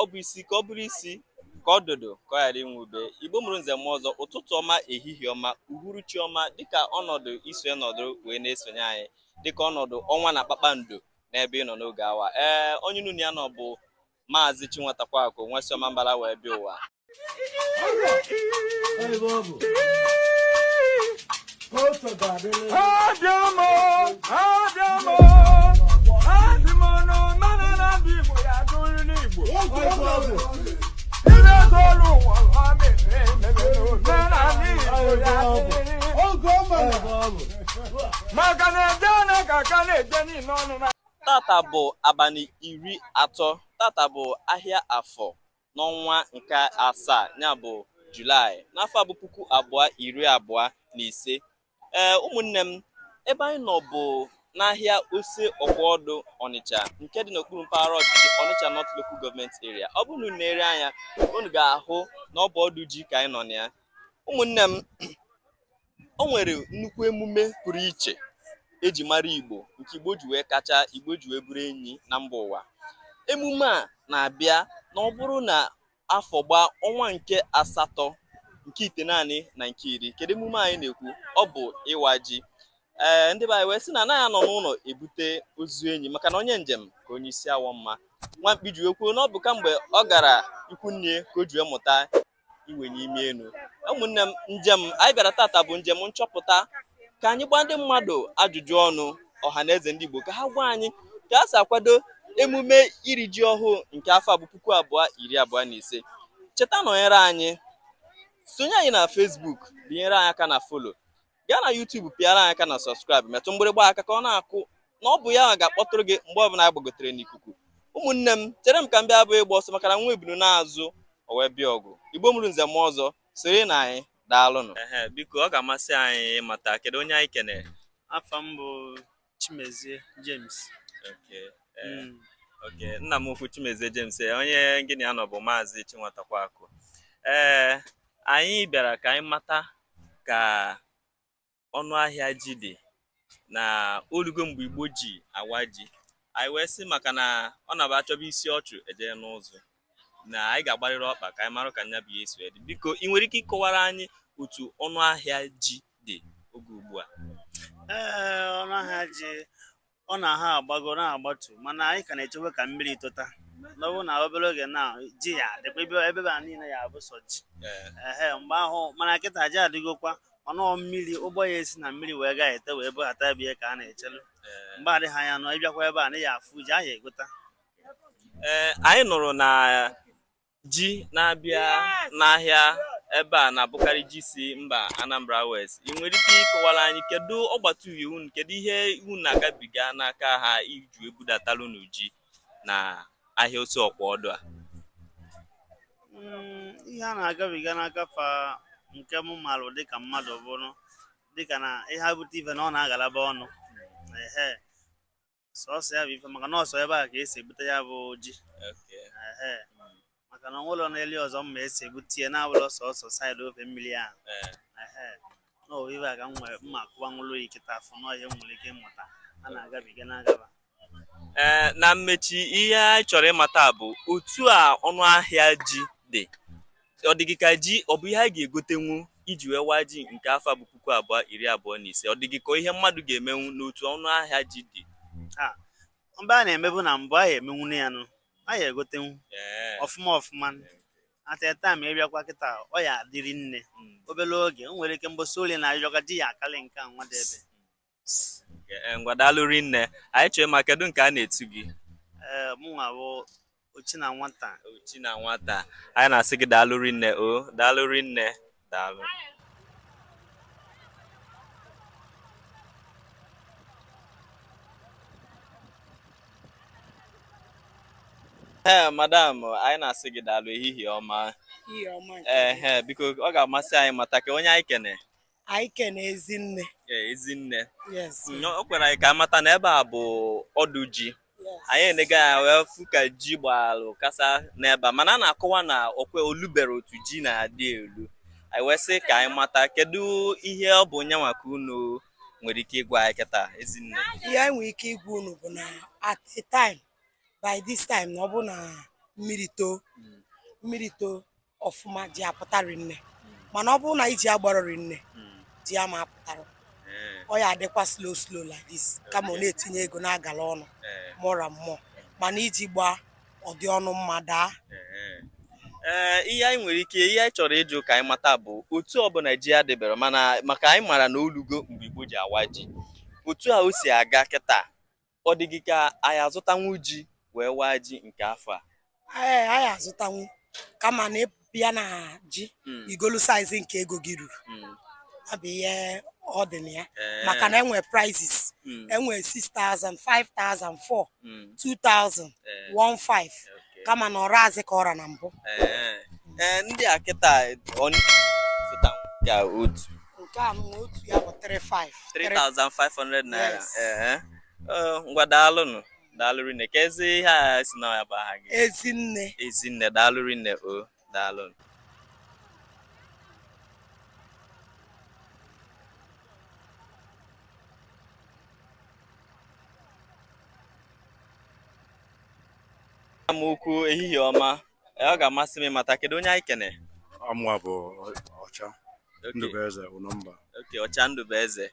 ọ bụ isi ka ọ bụrụ isi ka odudu ka ọ ghara inwe ube igbo mụrụ nze mụọ ọzọ ụtụtụ ọma ehihie ọma uhuruchi ọma dịka ọnọdụ i si nọdụ wee na-esonye anyị dịka ọnọdụ ọnwa na kpakpando n'ebe ị nọ n'oge awa ee onye unu na ya nọ bụ maazị chinwatakwaakụ nwa si ọmambala wee bịa ụwa tata bụ abalị iri atọ tata bụ ahịa afọ n'ọnwa nke asaa ya bụ julaị n'afọ a bụ puku abụọ iri abụọ na ise ee ụmụnne m ebe anyị nọ bụ n'ahịa ose ọkwọdụ ọnịcha nke dị n'okpuru mpaghara ọchịchị ọnịcha north local government area ọ bụrụ na unu na-ere anya unu ga-ahụ na ọ bụ ọdụ ji ka anyị nọ na ya ụmụnne m o nwere nnukwu emume pụrụ iche eji mara Igbo nke Igbo ji wee kacha Igbo ji wee bụrụ enyi na mba ụwa emume a na-abịa na ọ bụrụ na afọ gbaa ọnwa nke asatọ nke itenaanị na nke iri kedu emume anyị na-ekwu ọ bụ ịwa ji ee ndị be anyị wee sị na anaghị anọ n'ụlọ ebute ozu enyi maka na onye njem ka onye isi awọ mma nwa mkpi ji wee kwuo na ọ bụ kamgbe ọ gara ikwu nne ka o ji wee mụta iwenye imi elu ụmụnne m njem anyị bịara tata bụ njem nchọpụta ka anyị gbaa ndị mmadụ ajụjụ ọnụ ọha na eze ndị Igbo ka ha gwa anyị ka a si akwado emume iri ji ọhụụ nke afọ a bụ puku abụọ iri abụọ na ise cheta nọnyere anyị sonye anyị na Facebook binyere anyị aka na follow gaa na YouTube pịara anyị aka na subscribe metụ mgbịrịgba aka ka ọ na-akụ na ọ bụ ya ga-akpọtụrụ gị mgbe ọbụla anyị gbagotere n'ikuku ụmụnne m chere m ka m bịa abụghị ịgba ọsọ maka na nwa ebunu naa azụ o wee bịa ọgụ igbo mụrụ nze mụọ ọzọ siri na anyị daalụnụ biko ọ ga-amasị anyị ịmata kedu onye anyị kenere afa m bụ Chimezie James. Okay. Eh, mm. Okay. Nna m ukwu Chimezie James eh, onye gị na ya nọ bụ Maazị Chinwatakwaakụ. Ee, eh, anyị bịara ka anyị mata ka ọnụ ahịa ji dị na o lugo mgbe Igbo ji awa ji. Anyị wee sị maka na ọ na-abụ a chọba isi ọchụ e jee n'ụzụ. na anyị ga-agbarịrị ọkpa ka anyị mara ka nya bụ ihe si dị biko ị nwere ike ịkọwara anyị otu ọnụ ahịa ji dị oge ugbu a ee ọnụ ahịa ji ọ na-aha agbago na-agbatu mana anyị ka na-echewe ka mmiri tota na ọ bụ na obere oge na ji ya-adịkwa ebe a niile ya-abụ sọ ji ehe mgbe ahụ mana kịta ji adịgokwa mana mmiri ụgbọ ya-esi na mmiri wee gaa ete wee bughata ebe ka a na-echelu mgbe adịghị anya na ị bịakwa ebe a na ya-afụ ji ahụ egota ee anyị nụrụ na ji na-abịa n'ahịa ebe a na-abụkarị ji si mba Anambra West ị nwere ike ịkọwara anyị kedu ọgbata uhie unu kedu ihe unu na-agabiga n'aka ha iji ebudatalụ unu ji na ahịa Ose Okwodu a Mm, ihe a na-agabiga n'aka fa nke mụ marụ dịka mmadụ bụrụ dịka na ihe bute ife na ọ na-agalaba ọnụ ehe sọsọ ya bụ ife maka na ọ sọ ebe a ka esi ebute ya bụ ji Ehe. maka na o nwerọ n'eli ọzọ m ma esi ebute ya na-abụrọ sọsọ side ofe mmiri ahụ Ehe. na ohibe a ka m nwere mma akụwa nwụrụ iketa afọ na ọhịa m nwere ike ịmata a na-agabiga na-agaba ee na mmechi ihe anyị chọrọ ịmata bụ otu a ọnụ ahịa ji dị ọ dị gị ka ji ọ bụ ihe a ga-egotenwu iji wee waa ji nke afọ bụ puku abụọ iri abụọ na ise ọ dị gị ka ihe mmadụ ga-emenwu n'otu ọnụ ahịa ji dị mgbe a na-emebu na mbụ a ya emenwu na ya nụ a ya egotenwu ọfụma ọfụma at that time ị bịakwa kịta ọ ya adị rinne hmm. obere oge o nwere ike mbọsị ole na-arịọga ji ya akali nke nwa dị ebe Eh, ngwa daalụ rinne anyị chọrọ ịma kedu nke a na-etu gị ee mụnwa bụ Ọchịnanwata Ọchịnanwata anyị na-asị gị daalụ rinne o daalụ rinne daalụ ee madam anyị na-asị gị daalụ ehihie ọma ee biko ọ ga-amasị anyị mata ka onye anyị kene anyị kene Ezinne Ee, Ezinne yes Nnọọ, o kwere anyị ka amata na ebe a bụ ọdụ ji yes anyị enega ya wee fụ ka ji gbalụ kasa n'ebe a mana a na-akọwa na okwe olubere otu ji na-adị elu anyị wee sị ka anyị mata kedu ihe ọ bụ nyanwa ka unu nwere ike ịgwa anyị kịta Ezinne ihe anyị nwere ike ịgwa unu bụ na at a time by this time na ọ bụ na mmiri too mmiri too ọfụma ji apụta rinne mana ọ bụrụ na iji agbarọ rinne ji ama apụtara ọ ya adịkwa slow slow like this kama ọ na-etinye ego na-agala ọnụ more and more mana iji gbaa ọ dị ọnụ mma daa ee ihe anyị nwere ike ihe anyị chọrọ ịjụ ka anyị mata bụ otu ọ bụ na ji adịbere mana maka anyị mara na olugo mgbe Igbo ji awa ji otu a o si aga kịta ọ dị gị ka a ya azụtanwu ji wee waa ji nke afọ a ee a ya azụtanwu kama na ị bịa na ji Mm, i golu size nke ego gị ruru mm, ọ bụ ihe ọ dị na ya ee, maka na e nwe prices mm, e nwe 6000 5000 4 mm, 2000 ee, 15 okay. kama na ọ razị ka ọ ra na mbụ Ee, ee, ndị a kịta ọ zụtanwu ka otu nke a nwa otu ya bụ 35 3500 naira Yes. ee Ọ, ngwa daalụnụ daalụ rinne keezi ihe a sị na ya bụ aha gị ezinne ezinne daalụ rinne o daalụnụ nnukwu ehihie ọma ọ ga-amasị m ịmata kedu onye anyị kene ọ mụwa bụ ọcha ndụbụeze ụnọmba okay ọcha ndụbụeze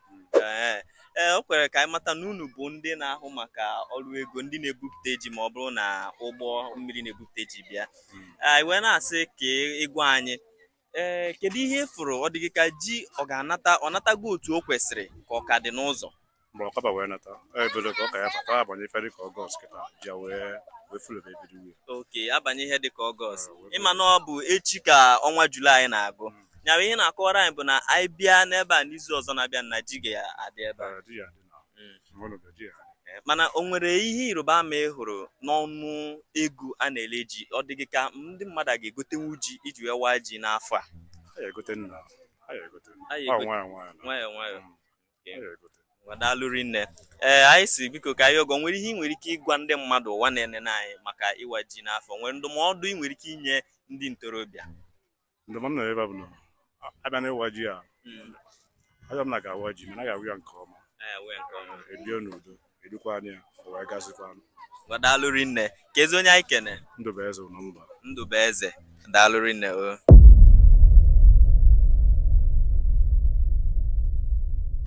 ee ee o kwere ka anyị mata na unu bụ ndị na-ahụ maka ọrụ ego ndị na-ebupụta ji ma ọ bụrụ na ụgbọ mmiri na-ebupụta ji bịa hmm. anyị wee na-asị ka ị gwa anyị ee eh, kedu ihe ị fụrụ ọ dị gị ka ji ọ ga-anata ọ natago otu o kwesịrị ka ọ ka dị n'ụzọ mgbe ọkaba wee nata ebido ka ọ ka ya-abata a banye ife dịka ọgọst kịta ji ya wee wee fulebe ebido wee okay a banye ihe dịka ọgọst ah, ị ma na ọ bụ echi ka ọnwa julaị na-agụ hmm. nyawa ihe ị na-akọwara anyị bụ na anyị bịa n'ebe a n'izu ọzọ na-abịa na ji ga-adị ebe a ah, mana o nwere ihe ịrịba ama ị hụrụ n'ọnụ ego a na-ele ji ọ dị gị ka ndị mmadụ ga-egotenwu ji iji wee waa ji n'afọ a nwa daalụ rinne ee anyị sị biko ka anyị jụọ gị o nwere ihe ị nwere ike ịgwa ndị mmadụ ụwa na-enene anyị maka ịwa ji n'afọ o nwere ndụmọdụ ị nwere ike inye ndị ntorobịa ndụmọdụ m na-enye va bụ na a bịa na ịwa ji a ama m na a ga-awa ji mana a ga-awa ya nke ọma e bie n'udo edukwa anya ya o wee gazikwa daalụ rinne keezi onye anyị kene ndụbụeze ụnọmba ndụbụeze daalụ rinne o